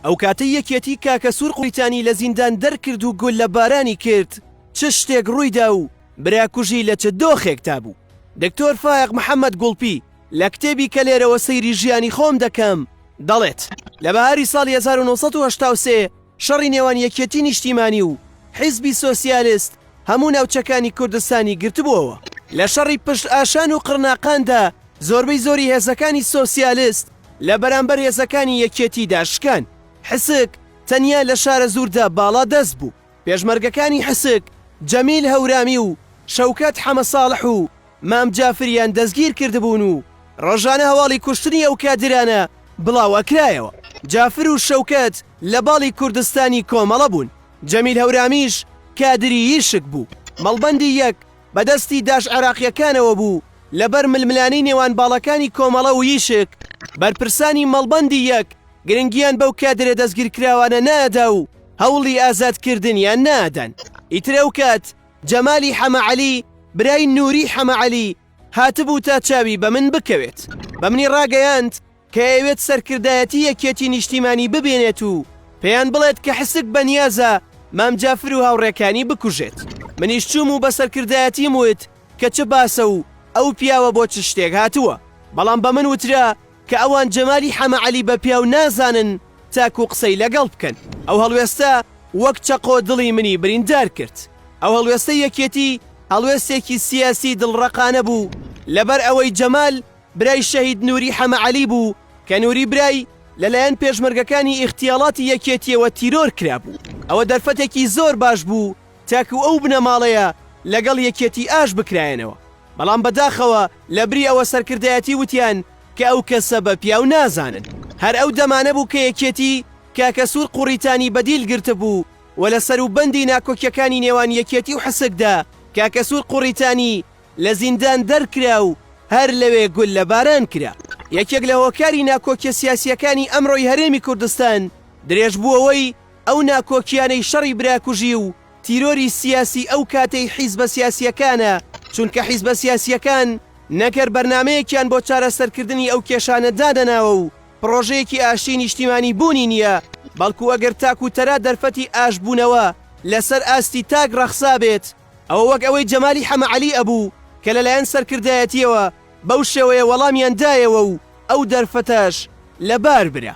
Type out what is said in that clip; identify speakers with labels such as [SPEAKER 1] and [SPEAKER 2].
[SPEAKER 1] ئەوکاتەی یەکێتی کاکە سور قویتانی لە زیندان دەرکرد و گوللە بارانی کرد چ شتێک ڕویدا و برا کوژی لە چ دۆخێک دا بوو؟ دکتۆر فایەق محەمەد گوڵپی لە کتێبی کە لێرەوە سەیری ژیانی خۆم دەکەم دەڵێت لە بەهاری ساڵی هەزار و نۆ سەد و هەشتا و سێ شەڕی نێوان یەکێتی نیشتیمانی و حیزبی سۆسیالست هەموو ناوچەکانی کوردستانی گرتبووەوە. لە شەڕی پشت ئاشان و قڕناقان دا زۆربەی زۆری هێزەکانی سۆسیالست لە بەرامبەر هێزەکانی یەکێتیدا شکان. حسک تەنیا لە شارەزووردا باڵا دەست بوو. پێشمەرگەکانی حسک، جەمیل هەورامی و شەوکەت حەمە ساڵح و مام جافریان دەستگیر کردبوون و ڕۆژانە هەواڵی کوشتنی ئەو کادرانە بڵاو ئەکرایەوە. جافر و شەوکەت لە باڵی کوردستانی کۆمەڵە بوون. جەمیل هەورامیش کادری یشک بوو. مەڵبەندی یەک. بە دەستی داش عێراقییەکانەوە بوو، لە بەر ململانێی نێوان باڵەکانی کۆمەڵە و یشک، بەرپرسانی مەڵبەندی یەک گرنگییان بەو کادرە دەستگیرکراوانە نادا و هەوڵی ئازادکردنیان نادەن. ئیتر ئەو کات جەمالی حەمە عەلی برای نووری حەمە عەلی هاتبوو تا چاوی بە من بکەوێت، بە منی ڕاگەیاند، کە ئەیەوێت سەرکردایەتی یەکێتی نیشتیمانی ببینێت و پێیان بڵێت کە حسک بە نیازە مام جافر و هاوڕێکانی بکوژێت منیش چووم و بە سەرکردایەتیم وت کە چ باسە و ئەو پیاوە بۆ چ شتێک هاتووە بەڵام بە من وترا کە ئەوان جەمالی حەمە عەلی بە پیاو نازانن تاکوو قسەی لەگەڵ بکەن ئەو هەڵوێستە وەک چەقۆ دڵی منی بریندار کرد ئەو هەڵوێستەی یەکێتی هەڵوێستێکی سیاسی دڵڕەقانە بوو لەبەر ئەوەی جەمال برای شەهید نوری حەمە عەلی بوو کە نوری برای لەلایەن پێشمەرگەکانی ئیغتیاڵاتی یەکێتیەوە تیرۆر کرابوو ئەوە دەرفەتێکی زۆر باش بوو تاکو ئەو بنەماڵەیە لەگەڵ یەکێتی ئاش بکرایەنەوە بەڵام بەداخەوە لەبری ئەوە سەرکردایەتی وتیان کە ئەو کەسە بە پیاو نازانن هەر ئەو دەمانە بوو کە یەکێتی کاکە سوور قوڕیتانی بەدیل گرتبوو و لەسەر و بەندی ناکۆکیەکانی نێوان یەکێتی و حسکدا کاکە سوور قوڕیتانی لە زیندان دەرکرا و هەر لەوێ گوللە باران کرا. یەکێک لە هۆکاری ناکۆکیە سیاسیەکانی ئەمڕۆی هەرێمی کوردستان درێژ بووەوەی ئەو ناکۆکیانەی شەڕی براکوژی و تیرۆری سیاسی ئەو کاتەی حیزبە سیاسیەکانە چونکە حیزبە سیاسیەکان نەک هەر بەرنامەیەکیان بۆ چارەسەر کردنی ئەو کێشانە دانەناوە و پڕۆژەیەکی ئاشتی نیشتیمانی بوونی نیە بەڵکو ئەگەر تاک و تەرا دەرفەتی ئاش بوونەوە لە سەر ئاستی تاک ڕەخسابێت ئەوە وەک ئەوەی جەمالی حەمەعەلی ئەبوو کە لەلایەن سەرکردایەتییەوە بەو شێوەیە وەڵامیان دایەوە و ئەو دەرفەتەش لەبار برا.